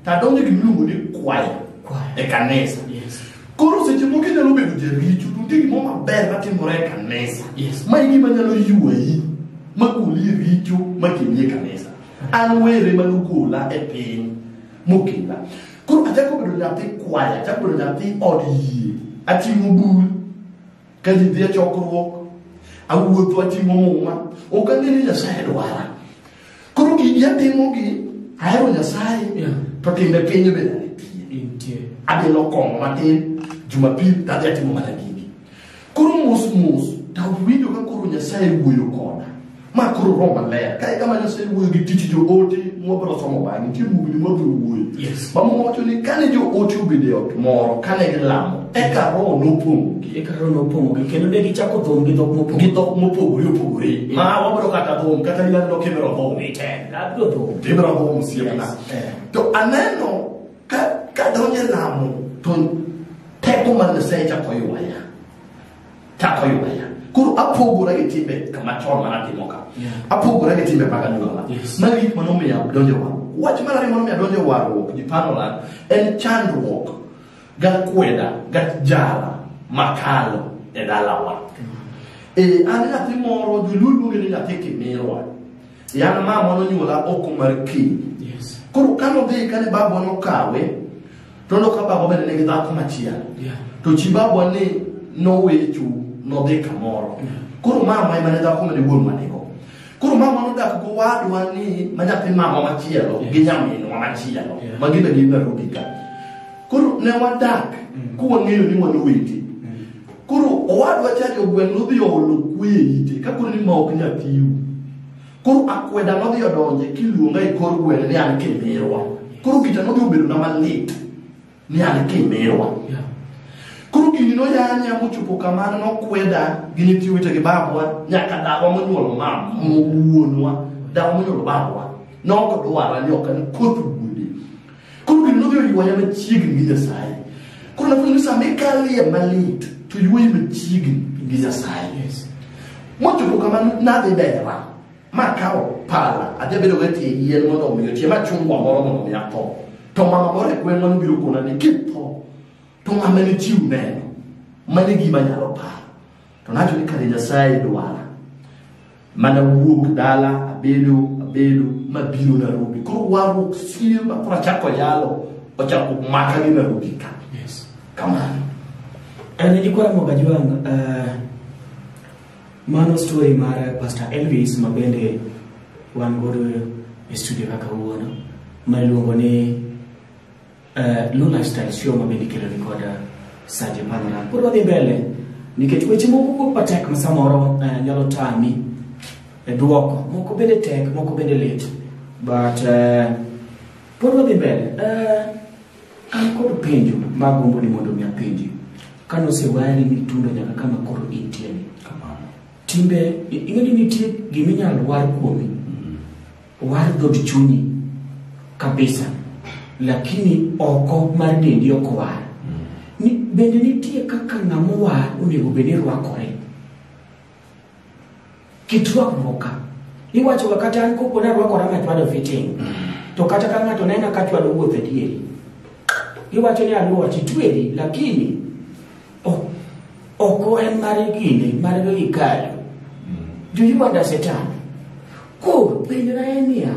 to adonjo gi miluongo ni kwayo e kanisa koro seche moko inyalo bedo jaricho to nitie gimoro maber matimore e kanisa ma in gima nyalo ywayi magoli e richo makeni e kanisa an were manogola e piny mokela koro achako bedo nyathi kwaya achako bedo nyathi od yie ating'o bul ka ji dhi e chokruok awuotho atimo muma ok ang'e ni nyasaye dwara koro gigi atimogi ahero nyasaye Yeah. to timbe piny be nitie Nitie. adhi lokongo matin jumapil tadhi atimo mana gigi koro mos mos tawinjo ka koro nyasaye wuoyo koda ma koro roho maler kae kama nyasaye wuoyo gi tich joote mwabiro somo bang'e nitie bug ni mwabiro wuoyo Yes. mama wacho ni kane joote obedo e ot moro kane gilamo eka roho nopong'ogi eka roho nopong'ogi kendo ne gichako thum gi dhok gi mopong'o dhok mopogore opogore ma wabiro kata dhom kata inaneno kibiro dhom itenda labiro thum tibiro dhom siepna Yes. Eh. to aneno ka kadonje lamo to teko mar nyasaye chako ywaya chako yudaya koro apogora gi timbe kama chon mana timo ka apogora gi timbe mag anyuola Yes. magi gik mano miya donjo wa wach mar ariyo mano miya donjo warruok ji panolan en chandruok ga kweda ga jala makalo e dalawa e an nyathi moro joluo luonge ni nyathi kimirwa Yan mama nonyuola oko mar keny. Yes. Koro ka nodhi ka ne babwa nokawe, to noneno ka babwa bende nigi dhako machielo. Yeah. To chi babwa ni nowecho nodhi kamoro. Koro mama ema ne dhako mane wuon manigo. Koro mama nodak go wadwa ni ma nyathi mama machielo gi nyaminwa machielo. Yeah. Magi be gin Nairobi ka. Koro ne wadak Mm. kuwang'eyo ni wan owete. Koro owadwa cha jogweng' nodhi olo kwe e ite ka koro ni ma ok nyathiu. Koro akweda nodhi odonje kiluonga e kor gweng' ni an kimirwa. Koro gita nodhi obedo na malit ni an kimirwa. Yeah. Koro gini noyanya mochopo kamano nokweda gi nyithi wete gi babwa nyaka dawa monyuolo mam mowuonwa dawa monyuolo babwa nokodwara ni ok an koth wuode. Koro gini nodhi oriwaya machiegni gi Nyasaye. Koro nafwenyo ni sama ikali e malit to yuoyi machiegni gi Nyasaye. Yes. Mochopo kamano nadhi dera makawo pala adhi abedo go e tie yien mondo omi otie machungwa moro mondo omi atho. To mama moro e gweng'wa nobiro kona ni kitho to ng'ama ne chiw neno mane gima nyalo paro to nacho ni kare nyasaye dwara mana wuok dala abedo abedo mabiro narobi koro warruok sie ma koro achako yalo ochako maka gi narobi ka Yes. kamano And then Ikwara Mogajuang, uh, mano story mar Pastor Elvis ma bende wan godo e studio kaka wuono ma iluongo ni Uh, Low Lifestyle Show ma bende ikelo ni kod uh, Saje Panora. Pod wadhi mbele nikech weche moko wuok matek ma samoro uh, nyalo tami e duoko. Moko bende tek, moko bende lit. But uh, pod wadhi mbele. Uh, an kod penjo ma agombo ni mondo mi apenji. Kane osewari ni tundo nyaka kama koro intieni. Kamano. Timbe, ing'eyo ni nitie gima inyalo war kuomi War dhood chunyi kabisa lakini oko mar dendi ok owar. Ni, bende nitie kaka ng'ama owar onego bed ni rwakore. Kit rwakruok ka. Iwachoga kata an kopo narwakora machwado fitting. To kata ka ng'ato nena kachwado wuoth adieri. Iwacho ni aluor chitweri lakini O- oko en mar gini mar hekalu do you understand koro penjona en niya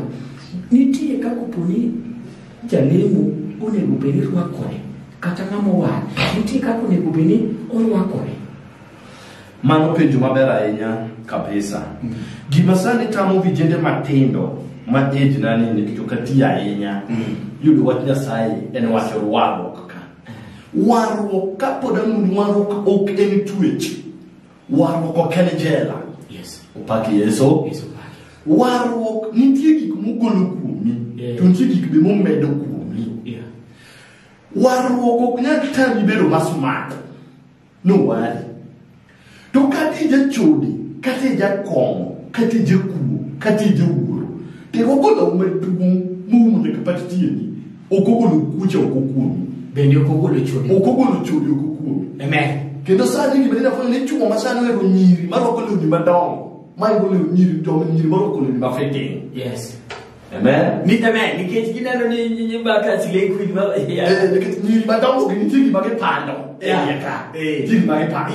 nitie kaka oponi jalemo onego bed ni rwakore kata ng'ama owar nitie kaka onego bed ni orwakore Mano penjo maber ahinya kabisa. Gima sani tamo vijende matindo ma age na ni nikech ok ati ahinya. Yudo wach Nyasaye en wach rwarruok ka. warruok kapod ang'uni warruok ok en twech warruok ok en jela Yes. opaki yeso Yesu pake. warruok nitie gik mogolo kuomi Yeah. to nitie gik be momedo kuomi Yeah. warruok ok nyal tami bedo masmart nowari to kata ijachode kata ijakong'o kata ijakuo kata ijawuoro tirogodawu maduong' moumo nyaka pat tieni ok ogolo kucha ok okuomi bende ok ogolo chode ok ogolo chode ok okuomi amen kendo sani gima nina fwenyo ni chwo ma sani ohero nyiri marwako lewni madongo ma igolo nyiri joma nyiri marwako lewni mafitini yes Amen. Ni amen nikech gineno ni ni- ni baka chile queen ma Eh, ya. nikech nyiri madongo gi nitie gima gipando e Yeah. iye ka Eh. nitie gima gipando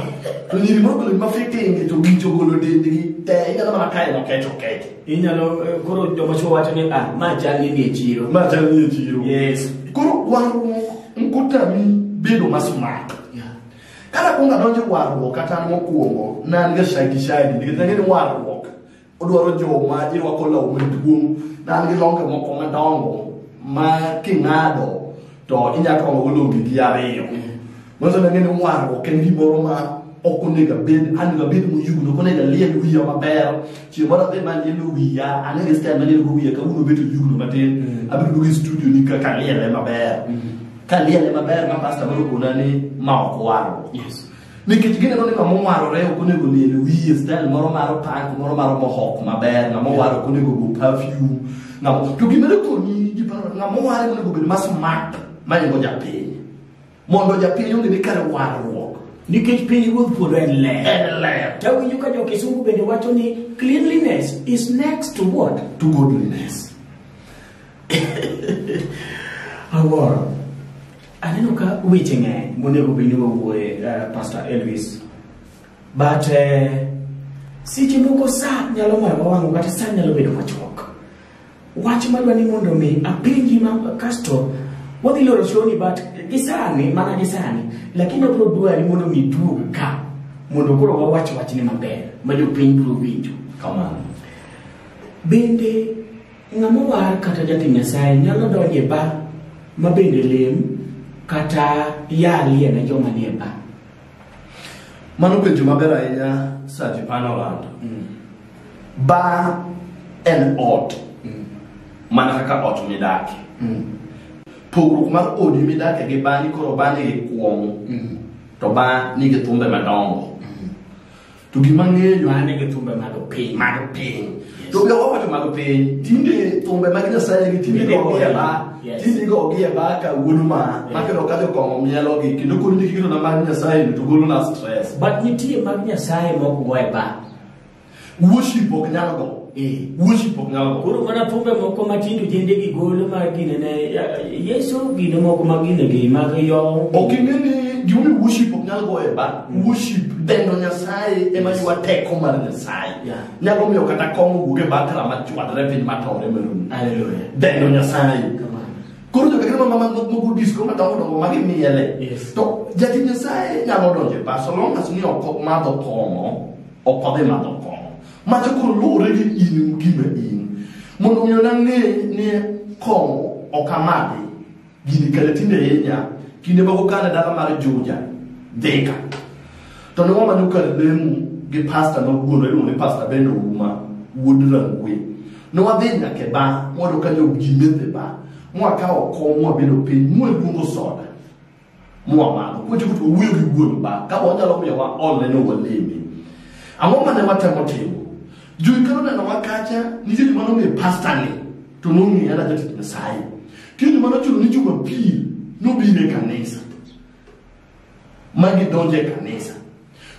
to nyiri mogolo gima fitenge to winjo golo dendgi te inyalo mana kae nokecho kecho Inyalo eh, koro joma chuo wacho ni ah ma jalni ni e chiro. ma chal nie chiro Yes. koro warruok nkotami bedo masmart Yeah. kana kuongo adonjo warruok kata an mokuongo na an ga shagi shagi nikech nang'e ni warruok Odwaro joma irwako law maduong' na an gi longe moko madongo ma king'ado to inyalo romo go longe gi ariyo. Mwanzo na ng'e ni warruok en gimoro ma ok onego abed an onego abed moyugno ok onego aliel wiya maber chieng' moro adhi ma lielo wiya ang'e gi style malielo go wiya kawuono obet oyugno matin abiro duogo e studio ni kaka aliele maber kaliele maber ma pasta moro kona ni ma ok warruok Yes. nikech gineno ni ng'ama owarore ok onego oliel wiye style moro mar punk moro mar mohok maber ng'ama owar ok onego go perfume ng'ama to gima ne koni giparo ng'ama owar onego bed ma smart ma ingo japiny mondo japiny onge ni kare warruok nikech piny ruoth pod en ler en ler to winjo ka jo-kisungu bende wacho ni cleanliness is next to what to godliness awuoro Aneno ka weche ng'eny monego bende wawuoye uh, Pastor Elvis. But uh, seche moko saa nyalo mayowa wang'o kata saa nyalo bedo machuok. Wach madwa ni mondo mi apenji ma kasto wadhi loro shoni but gisani mana gisani lakini abiro dwari mondo mi duog ka mondo koro wawach wachni maber ma jopiny biro winjo. Kamano. Bende Ng'ama owar kata nyathi Nyasaye nyalo donjo e ba ma bende lem kata yalie ne joma nie ba. Mano penjo maber ahinya Saji Panoland. Mm. Ba en ot mm. mana kaka ot midake. Mm. Pogruok mar odi midake gi ba ni koro ba nigi kuong' mm. to ba nigi thumbe madongo. to gima ng'eyo an gi thumbe mag piny mag piny to be owacho mag piny tinde thumbe mag nyasaye gi tinde go gi eba tinde go gi eba ka wuono ma ma kendo ka jo kongo mielo gi kendo kuonde ndi kikito na mag nyasaye to golo na stress but nitie mag nyasaye mok go eba worship ok nyal go Eh, worship of Yahweh. Koro mana thumbe moko matindo jende gi golo ma gine ne ya- Yesu gine moko ma gine gi mag yo. Ok ing'e ni gimomiyo worship ok nyal goye ba worship dendo nyasaye ema yuwa teko mar nyasaye Yeah. nyalo miyo kata kong'o wuog e bakra machwadre piny matore merum Hallelujah. dendo nyasaye Come on. koro joka kata mama mogo disko madongo dongo magi miele Yes. to jati nyasaye nyalo donjo e bas olongas ni ok omadho kong'o ok odhi madho kong'o Macha koro luwore gi in gima in. Mondo omiyo nang'e ni kong'o ok amadhi. Gini kare tinde hinya. Kinde moko kane dala mar Juja, Thika. To ne wamanyo kar lemo gi pasta nogolo iluongo ni pasta bende Ouma, wuod Rangwe. Ne wadhi nyaka e bar, mwayudo ka jo ji metho e bar. Mwakawo kom mwabedo piny, mwaluongo soda. mwamako kuonde kuto wuyo gi wuon ba ka wanyalo miyo wa on neno walemi ang'o mane watemo timo jui kano neno wa kacha nitie joma nong'e pasta ni to nong'e ana jatich nyasaye kendo joma nochuno ni juma pii nobine kanisa ma gidonje kanisa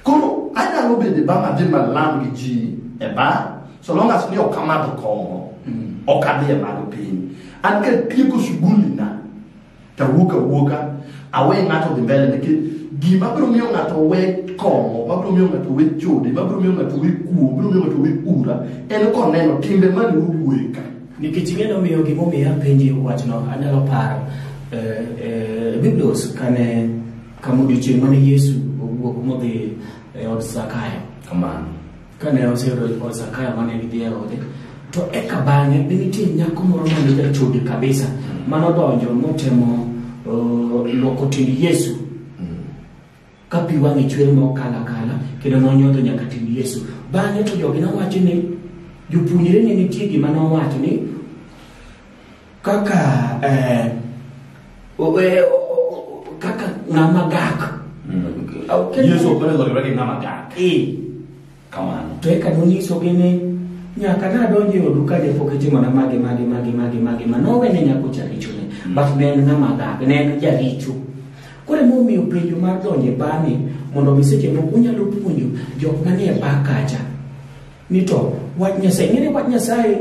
koro anyalo bede ba madhi malam gi ji e ba so long as ni okamadho kong'o mm. okadhi e malo piny an ka tieko shughuli na to awuok awuoka awe ng'ato dhi mbele nikech gima biro miyo ng'ato we kong'o mabiro miyo ng'ato we chode mabiro miyo ng'ato we kuo biro miyo ng'ato we ura en koneno timbe mane owuoye ka nikech ing'eyo miyo gimomiyo apenji wachno anyalo paro eh, eh, biblos kane kama odiochieng' mane yesu owuok modhi e od sakayo kamano Kane oseyudo od Zakayo mane gidhi e ode, to eka bang'e ne nitie nyako moro mane jachode kabisa mane odonjo motemo uh, lwoko tiend Yesu ka pi wang'e chwer ma okalo akala kendo nonyodho nyaka tiend Yesu. Bang'e to jogi nowacho ni jopuonjre ne nitie gima nowacho ni kaka eh, o- eh, o- o- o- kaka ng'ama gak Oket- Yesu ok onego oriwre gi ng'ama gak. Eh, Kamano. to eka nonyisogi ni nyaka nadonj e odu ka japok itimona mage mage mage mage mage ma nowene nyako jarichone but ne en ng'ama gak ne en jaricho koro emomiyo penjo mar donjo e bani mondo mi seche moko unyalo puonjo jok manie ba kacha ni to wach nyasaye ng'ene wach nyasaye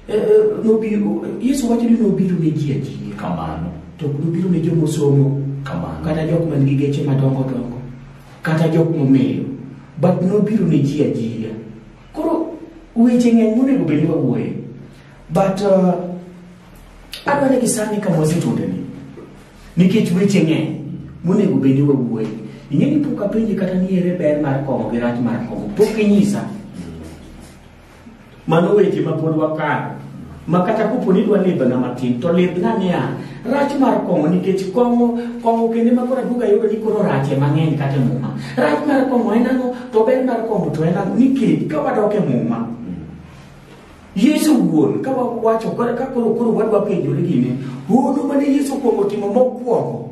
Eh, eh, nobiro- Yesu wacho ni nobiro ne ji ajiya, kamano to ok nobiro ne joma osomo, kamano kata jok man gi geche madongo dongo, kata jok momeyo, but nobiro ne ji ajiya. Koro weche ng'eny monego bed ni wawuoye, but uh, adwa ni gisani kama wasetudeni, nikech weche ng'eny monego bed ni wawuoye. Ing'e ni pok apenji kata ni ere ber mar kong'o gi rach mar kong'o, pok inyisa. mano weche ma pod wakano ma kata kopo ni dwa lidhona matin to lidhna niya rach mar kong'o nikech kong'o kong'o kende ma kora duga yudo ni koro rache mang'eny kata muma rach mar kong'o en ang'o to ber mar kong'o to en ang'o nikech ka wadok e muma Yesu wuon ka wawacho ka koro koro wadwa penjore gini hono mane Yesu kuongo timo mokwongo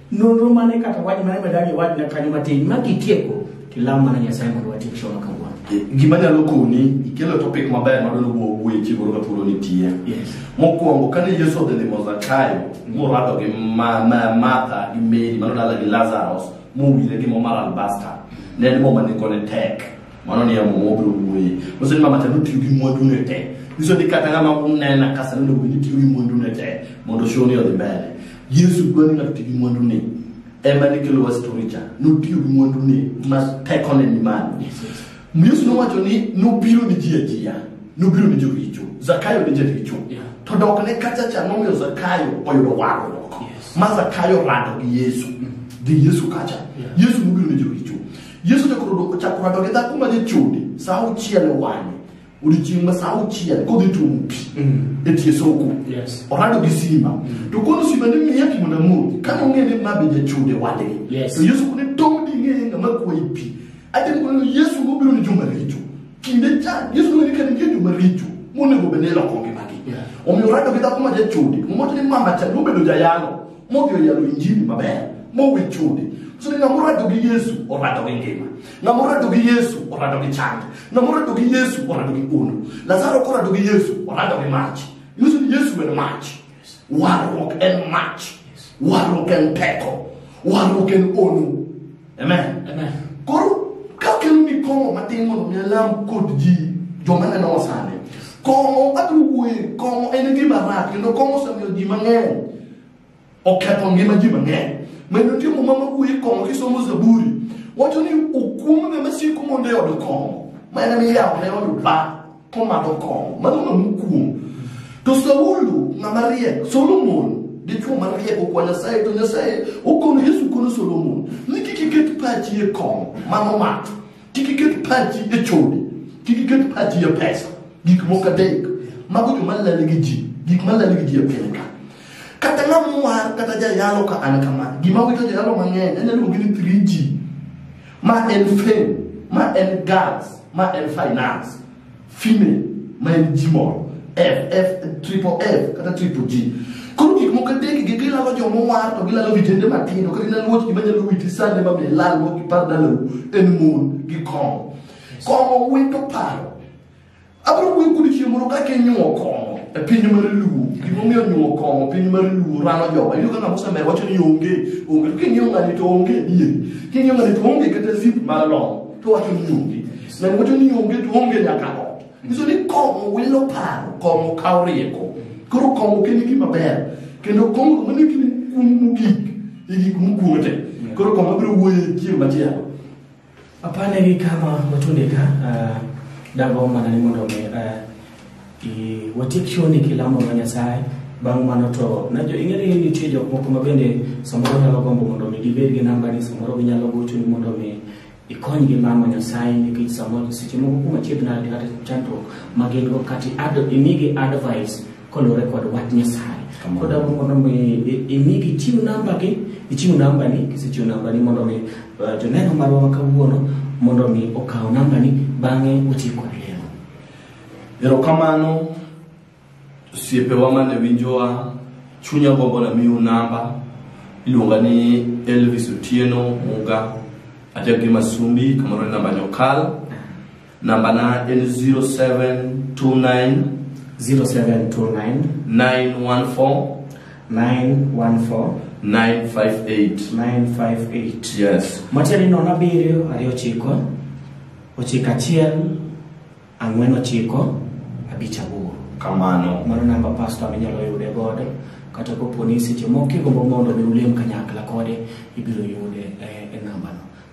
Nonro mane kata wach mane medagie wachna kanyo matin ma kitieko tilam mana Nyasaye mondo watiek show ma kawuono. E, gima nyalo koni ikelo topic maber madwaro wuo wuoye chigoro ka thuolo nitie Yes. mokwongo kane yesu odhi limo zakayo morado gi ma- ma- martha gi mary mano dala gi lazarus mowire gi mo mar albasta ne en mo ma nengone tek mano ni yamo mobiro wuoye nyiso ni mama cha notiyo gi mwandune te nyiso ni kata ng'ama unena ka sani nogo ni tiyo gi mwandune te mondo show ni odhi mbele yesu dwani ng'ato ti gi mwandune ema ni kelowa story cha notiyo gi mwandune ma tekone ni malo yesu nowacho ni nobiro ni ji ajiya nobiro ni joricho zakayo ni jaricho Yeah. to dok ne kacha cha nomiyo zakayo oyudo warruok Yes. ma zakayo rado gi yesu gi yesu kacha Yeah. yesu nobiro ni joricho Yesu ochako ochako rado gi dhako ma jachode sa auchiel wang'e odiochieng' ma sa auchiel kodhi tuomo pi e tie soko Yes. orado gi simba to kono simba ni miya pi mondo amodhi kane ong'e ni ma be jachode wadgi Yes. to Yesu kone tong' ding'eye ng'ama kwayi pi atim kono ni Yesu nobiro ni joma richo kinde cha Yesu nong'e ni ka nitie joma richo monego bed ni iloko ngimagi Yeah. omiyo orado gi dhako ma jachode mowacho ni mama cha nobedo jayalo modhi oyalo injili maber mowe chode soni ng'ama orado gi yesu orado gi ngima ng'ama orado gi yesu orado gi chanjo ng'ama orado gi yesu orado gi ono lazaro korado gi yesu orado gi mach yuso ni yesu en mach warruok en mach warruok en teko warruok en ono Amen. Amen. Koro kakelo ni kong'o matin mondo mi alam kod ji joma nenowa sani. Kong'o abiro wuoye, kong'o en gima rach kendo kong'o osemiyo ji mang'eny oketho ngima ji mang'eny. Mendo nitie muma ma wuoye kong'o kisomo Zaburi wacho ni okuong' ng'ama siko mondo e od kong'o ma en ema iyawo ne od baa komadho kong'o mano ng'a mokuom to saulo ng'ama riek solomon dichuo mariek okwa nyasaye to nyasaye okono yesu kono solomon ni kik iket pachi e kong'o mano mat kik iket pachi e chode kik iket pachi e pesa gik moko adek mago joma lal gi ji gik malal gi ji e piny ka kata ng'ama war kata jayalo ka an kama gima wito jayalo mang'eny anyalo luongi ni 3g ma en fame ma en girls ma en finance female ma en ji moro f f triple f kata triple g koro gik moko adek gi gilalo joma owar to gilalo vijende matindo kata inalo wuoch gima nyalo witi sande ma mi lal mok ipar dalau en mon gi kong'o kong'o wito paro abiro wuoyo kod chieng' moro kaka inyuo kong'o e piny mar luo gimomiyo nyuo kong'o piny mar luo rano jowa iyudo ka ng'ama osemer wacho ni onge onge to king'iyo ng'ani to onge nie king'iyo ng'ani to onge kata zip mar long to wacho ni onge ng'ani wacho ni onge to onge nyaka o nyiso ni kong'o wilo paro kong'o kawo rieko koro kong'o keni gima ber kendo kong'o mano e kini kum mogik e gik mokuote koro kong'o biro wuoyo e chieng' machielo Apane gi kama watune ka uh, dagomb mana ni mondo mi uh, i- watiek choni kilamo ma Nyasaye bang' mano to na jo ing'eyo ni nitie jok moko ma bende samoro nyalo gombo mondo mi gibed gi namba ni samoro ginyalo gocho ni mondo mi ikony gi lamo Nyasaye nikech samoro seche moko kuma chiedh nade kata chandruok ma gin go kata i- ad- imigi advice koluwore kod wach nyasaye Kamano. kod agombo mondo mi i- imigi chiw namba gi ichiw namba ni kisechiw namba ni mondo mi eh, joneno marwa ma kawuono mondo mi okaw namba ni bang'e wati kod lemo erokamano osiepewa mane winjowa chunya gombo namiu namba iluonga ni elvis otieno muga ajagi masumbi kamoro ni namba nyokal Namba na en 0729 0729 914 914 958. 958 Yes. matiende nono abiriyo ariyo ochiko ochiko achiel ang'wen ochiko abich aboro Kamano. mano namba pastor minyalo yude godo kata koponi seche moko kigombo mondo mi ulem kanyakla kode ibiro yude eh,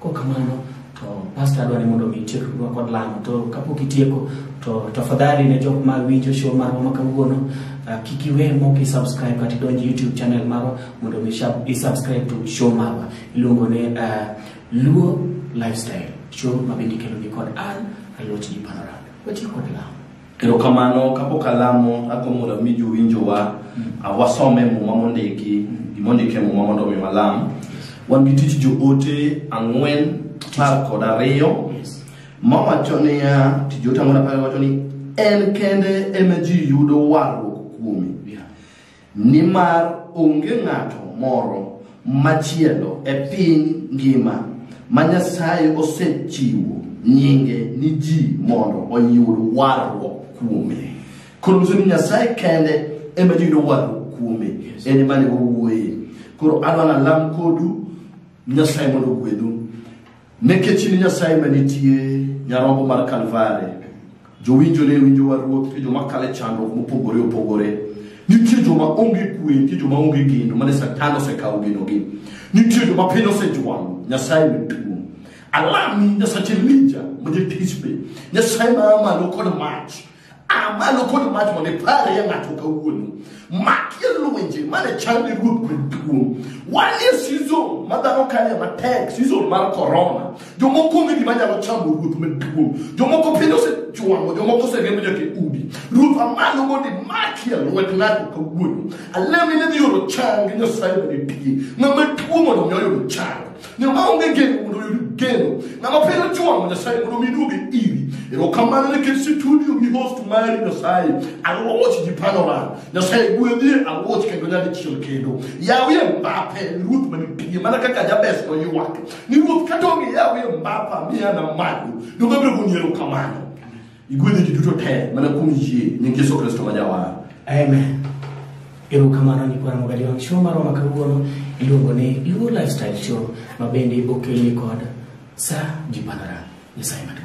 Kok kamano to pastor adwa ni mondo mi itiek rwa kod lamo to kapok itieko to tafadhali ne jok ma winjo show marwa ma kawuono uh, kik iwe mok i subscribe kata idonj youtube channel marwa mondo mi shab- i subscribe to show marwa iluongo ni uh, luo lifestyle show ma bende ikelo ni kod an alochni panorama watiek kod lamo Erokamano kapok alamo adhi mondo ami jowinjowa ah, wasome muma mondiki gimondiki e muma mondo mi walam wan gi tich joote ang'wen apar kod ariyo mawacho niya tich joote ang'wen apar wacho ni en kende ema ji yudo warruok kuome Nimar onge ng'ato moro machielo e piny ngima ma Nyasaye osechiwo nyinge ni ji mondo oyud warruok kuome. Koro nyiso ni Nyasaye kende ema ji yudo warruok kuome, en ema ne wawuoye. Koro adwa nalam kodu Nyasaye mondo ogwedhu. Nekech in Nyasaye ma nitie nyarombo mar Kalvare, jowinjo ne winjowa Ruoth e joma kale chandruok mopogore opogore. Nitie joma onge kwe, nitie joma onge geno, mane Satan osekawo genogi. Nitie joma piny osejwang'o, Nyasaye maduong'. Alami Nyasache Elija, ma jatich be, Nyasaye ma malo kod mach, amalo kod mach mondo ipare ya ng'ato kawuono makie lwenje mane chal ni ruoth bed tuo wanie season ma dhano kale matek season mar corona jomoko onge gima nyalo chamo ruoth maduong jomoko piny osechwango jomoko oseriembo nyaka e udi ruoth amalo mondo imakie lwet ng'ato kawuono alemine dhi oro chang nyasaye mondo itie ng'ama tuo mondo mi oyud chang Ng'ama ma onge geno mondo oyud geno. Ng'ama piny ochuang' Nyasaye mondo mi duoge iri. Erokamano nikech studio gi host mari Nyasaye. Aluoch gi panorama. Nyasaye gwedhie aluoch kendo nyadi chiel kendo. Yawie mbape ruoth man pie mana kaka Jabes noywak. Ni ruoth kata onge yawie mbapa miya na mago. Donge biro goni erokamano. Igwedho ji duto te mana kuom yie nying Yesu Kristo ma jawar. Amen. Erokamano ni kwana moga jwang' show marwa ma kawuono iluongo ni Luo Lifestyle Show ma bende okelni kod Sir Jipanara. Nyasaye matuwe.